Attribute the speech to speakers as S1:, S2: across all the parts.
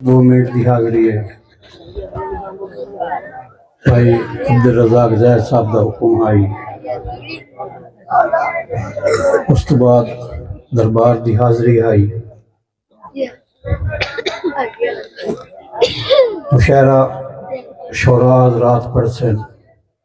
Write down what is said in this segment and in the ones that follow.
S1: دو منٹ دی حاضری ہے۔ بھائی عبدالرزاق زہر صاحب دا حکم آئی۔ اس تو بعد دربار دی حاضری آئی۔ مشاعرہ شعراء حضرات پڑھ سن۔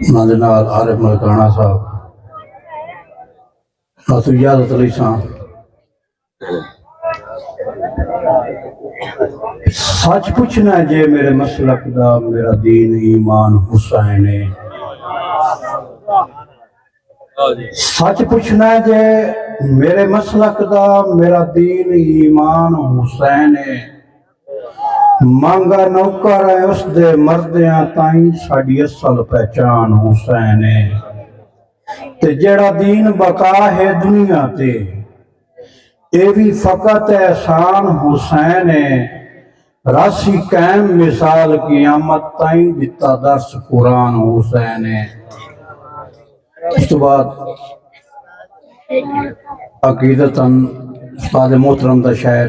S1: انہاں دے نال عارف ملکانہ صاحب ڈاکٹر اجازت علی شاہ سچ پوچھنا ہے جے میرے مسلک دا میرا دین ایمان حسین ہے سچ پوچھنا ہے جے میرے مسلک دا میرا دین ایمان حسین ہے مانگا نوکر ہے اس دے مردیاں تائیں ساڈی اصل پہچان حسین ہے تے جڑا دین بقا ہے دنیا تے اے بھی فقط احسان حسین ہے راسی قائم مثال قیامت تائیں دتا درس قرآن حسین ہے اس تو بعد عقیدتاً استاد محترم دا شاعر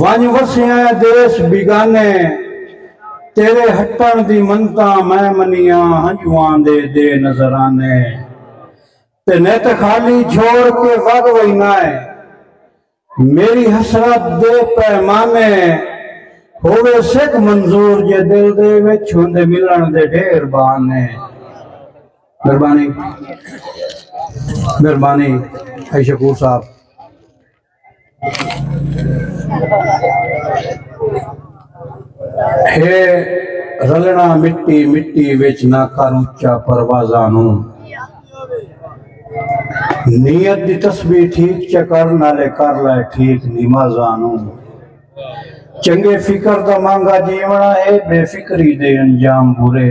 S1: ونڄ وسیاں اے دیس بیگانے تیرے ہٹݨ دی منتاں میں منیاں ہنجواں دے دے نذرانے تے نت خالی چھوڑ کے وڳ وینا اے میݙی حسرت دے پیمانے ہووے سک منظور جے دل دے وچ ہوندے ملݨ دے ڈھیر بہانے مہربانی مہربانی ائی شکور صاحب۔ ہے رلنا مٹی مٹی وچ نہ کر اچا پروازاں نو نیت دی تسبیح ٹھیک چکر نالے کر لائے ٹھیک نمازاں نو چنگے فکر دا مانگا جیونا ہے بے فکری دے انجام برے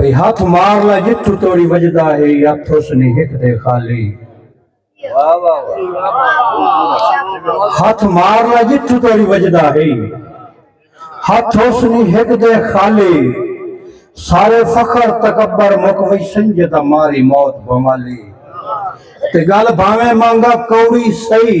S1: ای ہتھ مار لا جتھو توڑی وجدا ہے یا تھوسنی ہک دے خالی ہتھ مار لا جتھو توڑی وجدا ہے ہتھ حسنی ہک دے خالی سارے فخر تکبر مک وی سنجدا ماری موت بمالی تے گل بھاویں مانگا کوڑی سئی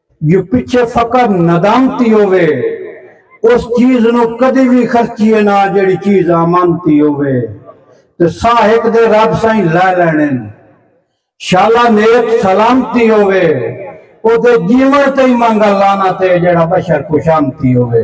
S1: جو پچھے فقط ندامتی ہووے اس چیز نو کدی وی خرچیے نا جیڑھی چیز آمانتی ہووے تے ساہ ہک دے رب سائیں لے لینن شالا نیت سلامتی ہووے او دے جیون تئیں مانگا لعنت اے جیڑھا بشر خوشامتی ہووے۔